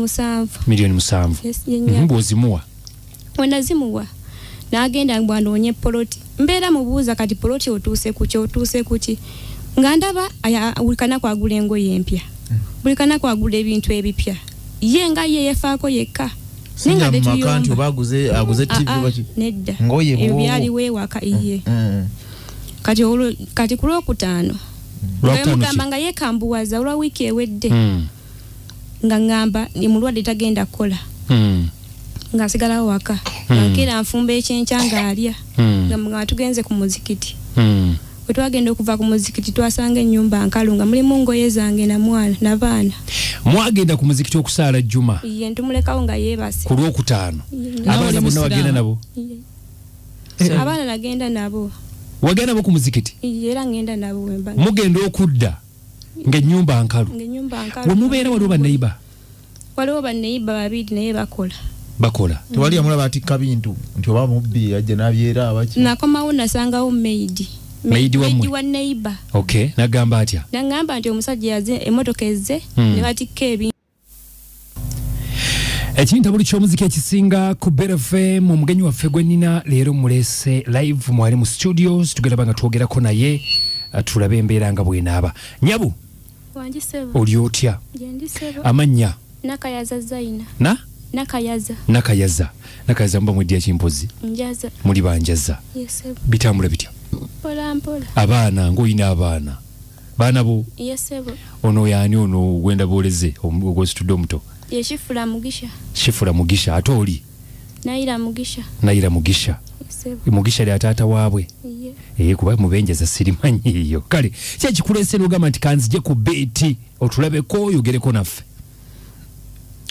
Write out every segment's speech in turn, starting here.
musanvu miliyoni musanvu mhm, bwozimuwa wenazimuwa nagenda mbu anoonye poloti mbeera mubuuza kati poloti otuuse kuki otuuse kuki nga ndaba buli kanaku agula engoye empya mm. buli kanaku agula ebintu ebipya ye nga ye yefaako yekka byaliwewaka iye mm, mm. kati kati kulwokutaano lwemugamba nga yekambuwaza olwa wiiki ewedde nga ŋŋamba ndi mulwadde tagenda kukola hmm. nga nsigalawo waka hmm. ankera nfumba ekyenkya ng'alya hmm. nga nga tugenze ku muzikiti bwe twagenda okuva ku muzikiti twasanga ennyumba nkalu nga mulimu ngoye zange na mwana na baana mwagenda ku muzikiti okusaala jjuma ye ntumulekawo nga yeebase ku lwokutaano abaana bonna wagenda nabo eh. abaana nagenda nabo wagenda nabo ku muzikiti era ngenda nabo mugenda okudda ngaenyumba nkalu wemubeera waliwo baneiba waliwo baneiba babiri naye bakola bakola mm. tewali amulaba atikka bintu nti oba mubbi ajja nabyera abaki nakomawo nasangawo maidi maidi wa neiba okay nagamba atya nagamba nti omusajja yaze emotoka ezze mm. nebatikka ebintu ekintabuli ky'omuziki ekisinga ku beta fm omugenyi waffe gwe nina leero mulese live mwali mu studios tugeraba nga twogerako naye uh, tulabe embeera nga bwenaaba nyabu oli otya amannya nakayaza zaina na nakayaza nakayaza nakayaza muba mwedya kimpozi njaza muli banjaza bitambula bitya abaana ngaolina abaana baana bo ono yani ono gwenda booleze ogwesitudde omuto yekifula mugisha kifula mugisha ate oli nayira mugisha nayira mugisha mugisha lya taata waabwe eye eh, kuba mubenjeza sirimanyi eyo kale kyekikulese nogamba nti kanzije ku beeti otulabeko oyogereko naffe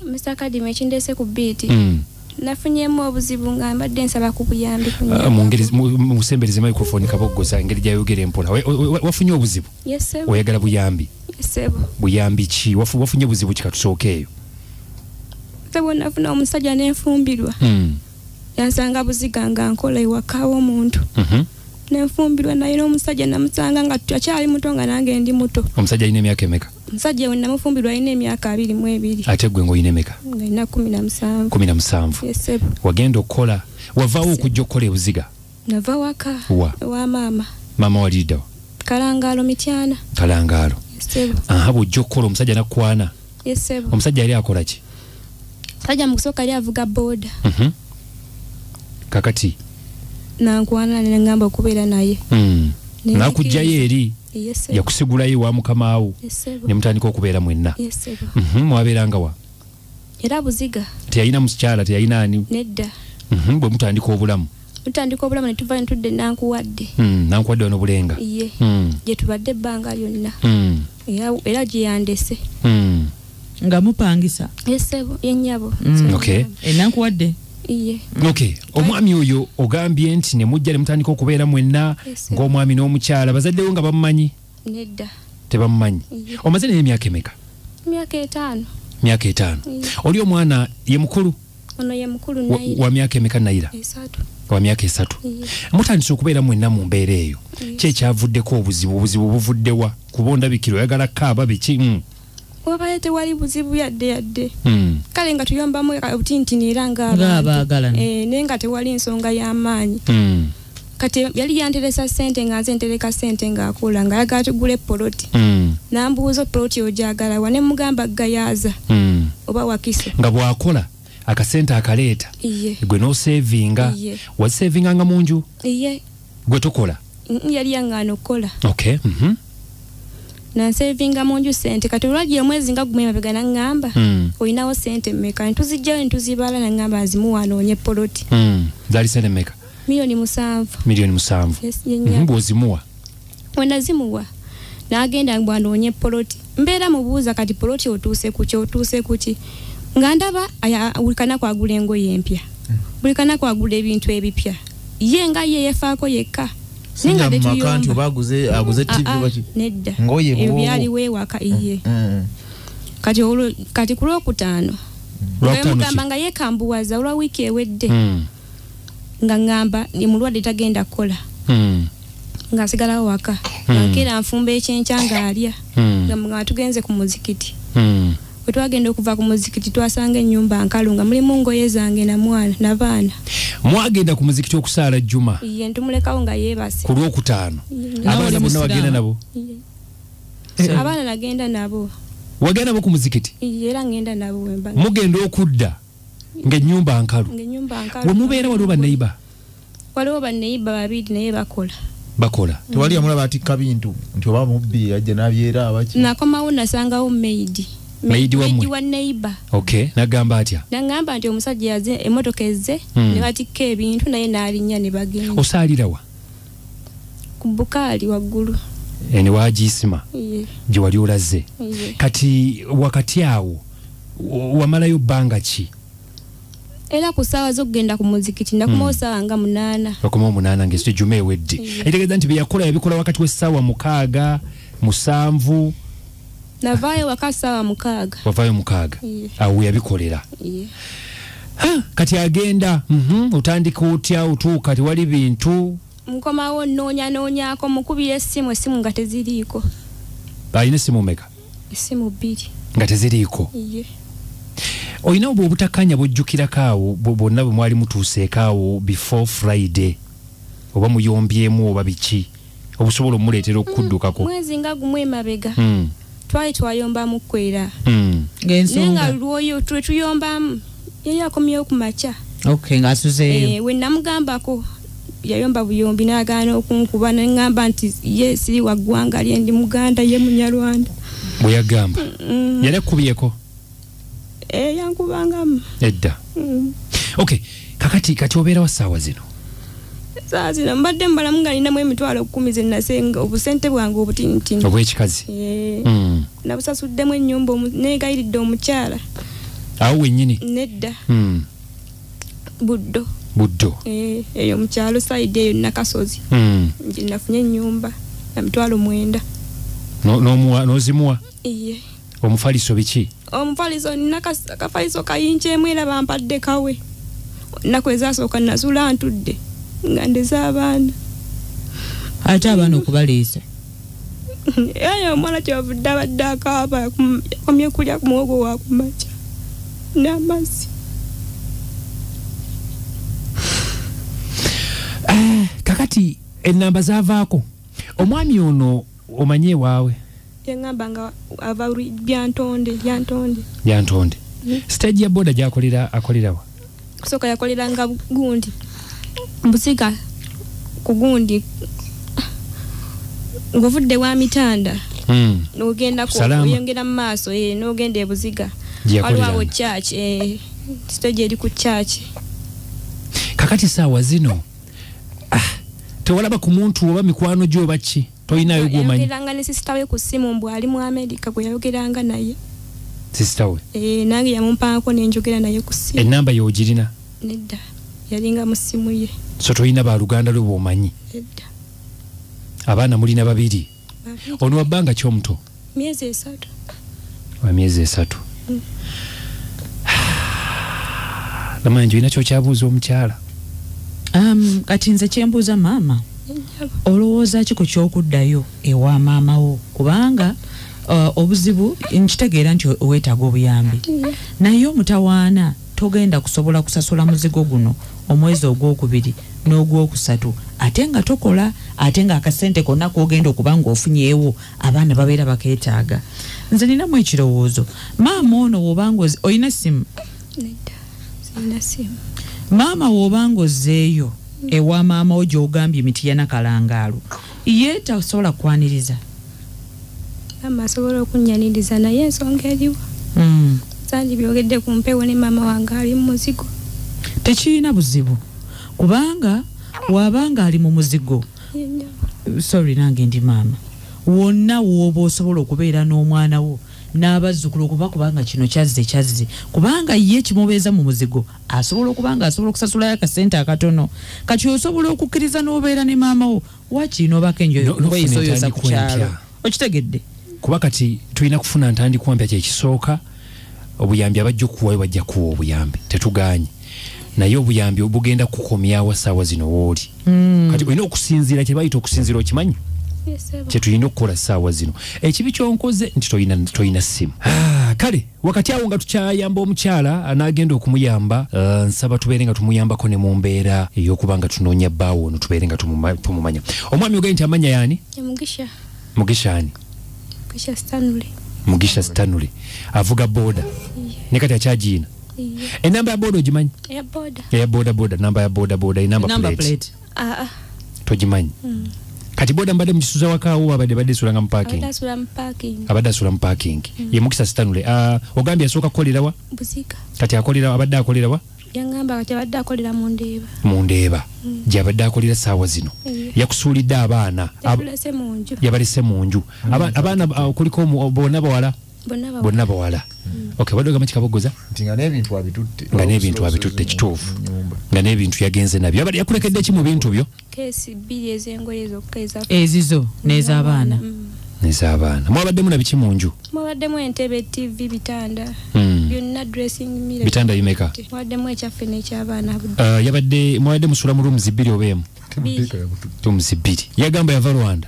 Mr. Kadim ekindese ku beat. Mm. Nafunyemu obuzibu nga mbadde nsaba ku buyambi ku nyama. Ah, Mungeri musembereze microphone kaboggoza engeri gyayogera empola. Wafunye obuzibu? Yes sebo. Oyagala buyambi? Yes sebo. Buyambi ki? Wafu wafunye obuzibu ki katusookeeyo? Sebo nafuna omusajja nenfumbirwa. Mm. Yansanga buziga nga nkola ewaka w'omuntu. Mhm. Mm nenfumbirwa naye n'omusajja namusanga nga tukyali muto nga nange ndi muto omusajja alina emyaka emeka omusajja we namufumbirwa alina emyaka abiri mu ebiri ate gwe ngaolina emeka alina kumi na musanvu kumi na musanvu wagenda okukola wavaawo okujja okukola ebuziga nava waka wa wa maama maama waliriddawa kalangaalo mityana kalangaalo aha bwojja okukola omusajja nakwana omusajja yali akola ki sajja mukusooka yali avuga booda mhm. kakati nankwana nengamba okubeera naye hmm. nakugjayo eri yakusigulayo ewa mukama wo ne mutandika okubeera mwenna mhm, mwabeeranga wa era buziga teyalina mukyala teyalina ani nedda mhm, bwe mutandika obulamu tutandika obulamu netuvayo netudde nankuwadde hmm, nankuwadde wano bulenga ye hmm. gyetubadde ebbanga lyonna hmm. era gyeyandese nga mupangisa yesebo yenyabo enankuwadde okay omwami oyo ogambye nti ne mujja ne mutandika okubeera mwenna ng'omwami n'omukyala bazaddewo nga bamumanyi nedda tebamumanyi omaze naye emyaka emeka myaka etaano myaka etaano oli omwana ye mukulu ono ye mukulu nayira wa myaka emeka nayira esatu wa myaka esatu mutandise okubeera mwenna mu mbeera eyo kyekyavuddeko obuzibu obuzibu buvuddewa kuba ondabikira oyagala kaaba biki mm. wabadde tewali buzibu yadde yadde hmm. kale nga tuyambamu obutintini era ngaabaagala eh, naye nga tewali nsonga y'amaanyi hmm. kati yali yanteresa sente nga nze ntereka sente ng'akola nga yagala tugule poloti hmm. nambuuza poloti ogyagala wa ne mugamba gayaaza oba wakisa nga bwakola akasente akaleeta gwe nosevinga wasevinga nga mu nju gwe tukola yali yangaana okukola okay mm -hmm. nansevinga mu nju sente kati olwajja omwezi nga gumu emabega naŋŋamba mm. olinawo sente mmeka ntuzijjayo ntuzibala naŋŋamba nzimuwa anoonye poloti mm. zaali sente mmeka miliyoni musanvu miliyoni musanvu yes, mm -hmm. bwozimuwa wenazimuwa nagenda mbu anoonye poloti mbeera mubuuza kati poloti otuuse kuki otuuse kuki nga ndaba buli kanaku agula engoye empya hmm. buli kanaku agula ebintu ebipya ye nga ye yefaako yekka byaliwo ewaka iye hmm. kati kati ku lwokutaano wemugamba nga yekambuwaza olwa wiiki ewedde hmm. nga ŋŋamba ndi mulwadde tagenda kukola hmm. nga nsigalawo waka hmm. ankeera nfumba ekyenkya ng'alya hmm. nga nga tugenze ku muzikiti bwe twagenda okuva ku muzikiti twasanga ennyumba nkalu nga mulimu ngoye zange na mwana na baana mwagenda ku muzikiti okusaala jjuma ye ntumulekawo nga yeebase ku lwokutaano abaana bonna wagenda nabo eh. abaana nagenda nabo wagenda nabo ku muzikiti era ngenda nabo wemba mugenda okudda ngaenyumba nkalu wemubeera waliwo baneiba waliwo baneiba babiri naye bakola bakola mm. tewali yamula batikka bintu nti oba mubbi ajja nabyera abaki nakomawo nasangawo maidi maidi wa neiba ok nagamba atya nagamba nti omusajja yaze emotoka ezze mm. nebatikka ebintu naye nalinya nebagenda osaalirawa ku bukaali waggulu ene wagiisima gye wali olaze kati wakati awo wamalayo bbanga ki era ku ssaawa z'okugenda ku muzikiti nakumawo hmm. ssaawa nga munaana okumawo munaana ngaesto ejuma ewedde etegeeza nti byeyakola yabikola wakati w'essaawa mukaaga musanvu navaayo waka saawa mukaaga wavaayo mukaaga awo weyabikolera kati agenda mhm, otandika otya otuuka tewali bintu nkomawo nnoonya noonyako mukubira essimu essimu nga teziriiko alina essimu meka essimu bbiri nga teziriiko olina obwo obutakanya bwojjukirako awo bwonna bwe mwali mutuuseeko awo before friday oba muyombyemu oba biki obusobola omuleetera okukuddukako mm, mwezi nga gumu emabega mm. twali twayombamu kwera mm. naye nga lwoyo twe tuyombamu yali akomyewo ku makya okay, ngasuzeeyo eh, wenamugambako yayomba buyombi nagaana okunkuba nengamba nti ye siri waggwanga lyendi muganda ye munyarwanda bweyagamba mm. yali akkubyeko eh, yankubangamu edda mm. okay kakati kati obeera wa saawa zino saawa zino mbadde mbalamu nga ninamu emitwalo kumi zenasenga obusente bwange obutinitini obwekikazi eh, mm. nabusasuddemu enyumba negayiridde omukyala awo wenyini nedda mm. buddo buddo eh, eyo mukyalo saidi eyo nakasozi mm. nafunye enyumba namitwalo mwenda nozimuwa no, no omufaliso biki omufaliso nina kafaliso kayinja emu era bampadde kawe naku ezasooka nazula ntudde nga ndeze abaana ate abaana okubaliisa eyo omwana kyovudde abadde akaaba yakomye kulya ku muwogo wakumaca n'amazzi eh, kakati enamba zavaako omwami ono omanyi ewaawe yangamba nga ava byantonde byantonde byantonde hmm? stage ya boda gyakolera akolerawa kusooka yakoleranga gundi mbusiga ku gundi ng'ovudde wa mitanda hmm. nogenda kuyongera mu maaso eh, nogenda ebuziga waliwawo church eh, stage eri ku church kakati saawa zino ah, tewalaba ku muntu oba mikwano gyo oba ki tolinayo gwomanyiyogeranga ne sisita we ku ssimu mbu ali mu amerika gwe yayogeranga naye sisita we eh, nange yamumpangako nenjogera naye ku ssimu enamba ye ogirina nedda yalinga mu ssimu ye so tolina baluganda lwe bwomanyi nedda abaana mulina babiri ono wabbanga ki omuto myezi esatu wa myezi esatu mm. namanya nti olina kyokyabuuza omukyala um, kati nze kyembuuza maama olowooza ki ku kyokuddayo ewa maama wo kubanga uh, obuzibu nkitegeera nti weetaaga obuyambi naye omutawaana Togenda kusobola kusasula muzigo guno omwezi ogwokubiri n'ogwokusatu ate nga tokola ate nga akasente konna kogenda okuba ng'ofunyeewo abaana babeera bakeetaaga nze ninamu ekirowoozo maama ono wobanga olina essimu maama wobanga ozzeeyo ewa maama wo gyogambye emiti yanakalangaalo ye tasobola kwaniriza maama asobola okunyaniriza naye ensonga eriwo hmm. sanji byogedde ku mpewo ne maama wange ali mu muzigo tekirina buzibu kubanga wabanga ali mu muzigo sorry nange ndi maama wonna wooba osobola okubeera n'omwana wo n'abazzukulu okuba kubanga kino kyazze kyazze kubanga ye kimubeeza mu muzigo asobola okuba nga asobola okusasulayo akasente akatono kati osobola okukkiriza n'obeera ne maama wo wakiina obako enjoyoeyisoyoza ku kyalo okitegedde kuba kati tulina kufuna ntandikwa mpya kyekisooka obuyambi abajja okuwayo bajja kuwa obuyambi tetuganye naye obuyambi obugenda kukomyawo saawa zino wooli mm. kati olina okusinziira kyebayita okusinziira okimanyi kyetulina okukola saawa zino ekibi kyonkoze nti tolina simu ah, kale wakati awo nga tukyayamba omukyala anaagenda okumuyamba uh, nsaba tubeere nga tumuyambako ne mu mbeera ey'okuba nga tunoonya bbaawo ono tubeere nga tumumanya omwami ogaye nti amanya yaani mugisha ani mugisha stanley avuga boda ne kati akyagiina enamba ya boda ogimanyi eya boda boda namba ya boda boda enamba plate ah, ah. togimanyi mm. kati boda mbadde mukisuza wakaawo abadde badde esulanga mu parking abadde asula mu parking mm. ye mukisa sitanule uh, ogambye asooka kukolerawa kati akolera abadde akolerawa yangamba kati abadde akolera mu ndeeba mu ndeeba mm. gyabadde akolera saawa zino yeah. yakusuulidde abaana yabalese mu nju mm. abaana uh, kuliko bona bawala bonna bawala okay bado gamba kikabogoza nti nga n'ebintu abitutte nga n'ebintu abitutte kituufu nga n'ebintu yagenze nabyo abadde yakulekedde ki mu bintu byo keesi bbiri ez'engoye zokka eza ezizo n'ez'abaana mm. nezabaana mwabaddemu na biki mu nju mwabaddemu entebe tv bitanda hmm. byonna dressing mirror bitanda bimeka mwabaddemu ekyaffe n'ekyabaana uh, yabadde mwabadde musula mu rooms bbiri oba emu rooms bbiri yagamba yava rwanda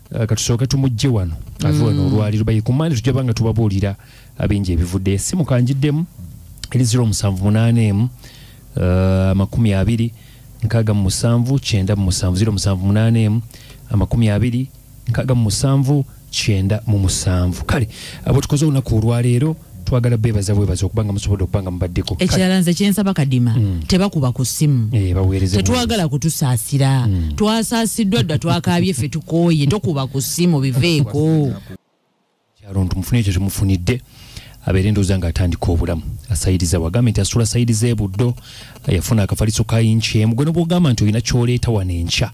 Eh, katusooke tumujje wano ave wano mm. olwaliro baye ku mande tujja banga tubabuulira abingi ebivudde esimu kanjiddemu eri 0 musanvu munaana emu eh, amakumi abiri nkaaga mu musanvu kyenda mu musanvu 0 musanvu munaana emu amakumi abiri nkaaga mu musanvu kyenda mu musanvu kale abo tukoze olunaku olwaleero twagala bebaza bwebaza okuba nga musobodde okuba nga mubaddeko ekirala nze kyensaba kadima mm. tebakuba ku ssimu eh, tetwagala kutusaasira mm. twasaasiddwa dda twakaabye ffe tukooye tokuba ku ssimu biveeko kyalo nti mufune ekyo kyemufunidde abeere endooza nga atandika obulamu asayiriza wagambe nti asula sayiriza ebuddo yafuna akafaliso kayinkyemu gwe nobwogamba nti olina kyoleeta wano enkya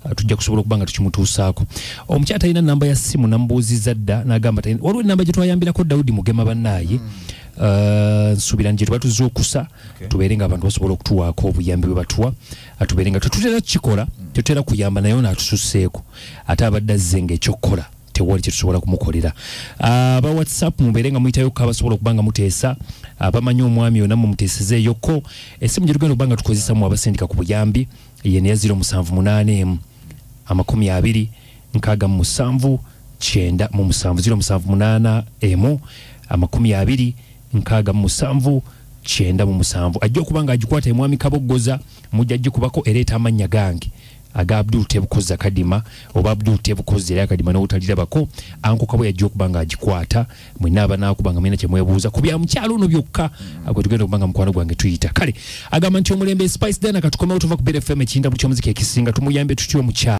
Uh, tujja kusobola okuba nga tukimutuusaako omukyala talina namba ya simu namubuuziza dda nagamba waliwo enamba gye twayambirako dawudi mugema bannaaye hmm. uh, nsuubira nje tubatuza okusa tubeere nga abantu basobola okutuwaako obuyambi bwe batuwa atubeere nga tetutera kukikola hmm. tetutera kuyamba naye ono atususseeko ate abadde azze nga ekyokukola tewali kyetusobola kumukolera uh, aba whatsapp mubeere nga muyitayo ko abasobola okuba nga muteesa abamanyi omwami yona mumuteesezeeyoko esimu gye tugenda okuba nga tukozesamu abasindika ku buyambi ye ne yazira omusanvu munaana emu amakumi abiri nkaaga mu musanvu kyenda mu musanvu ziro musanvu munaana emu amakumi abiri nkaaga mu musanvu kyenda mu musanvu ajja okuba nga agikwata emwami kaboggoza mujja gikubako ereeta amannya gange aga abdul tebukoza kadima oba abdul tebukoza era kadima n'obutalirabako ankokabo yajja okuba nga agikwata mwena abanaakuba nga mwena kyemwebuuza ku bya mukyalo ono byokka agwe tugenda okuba nga mukwano gwange tuyita kale agamba nti omulembe spice dana katukomewo tuva ku bfm ekinda buli kyomuzika ekisinga tumuyambe tutya omukyalo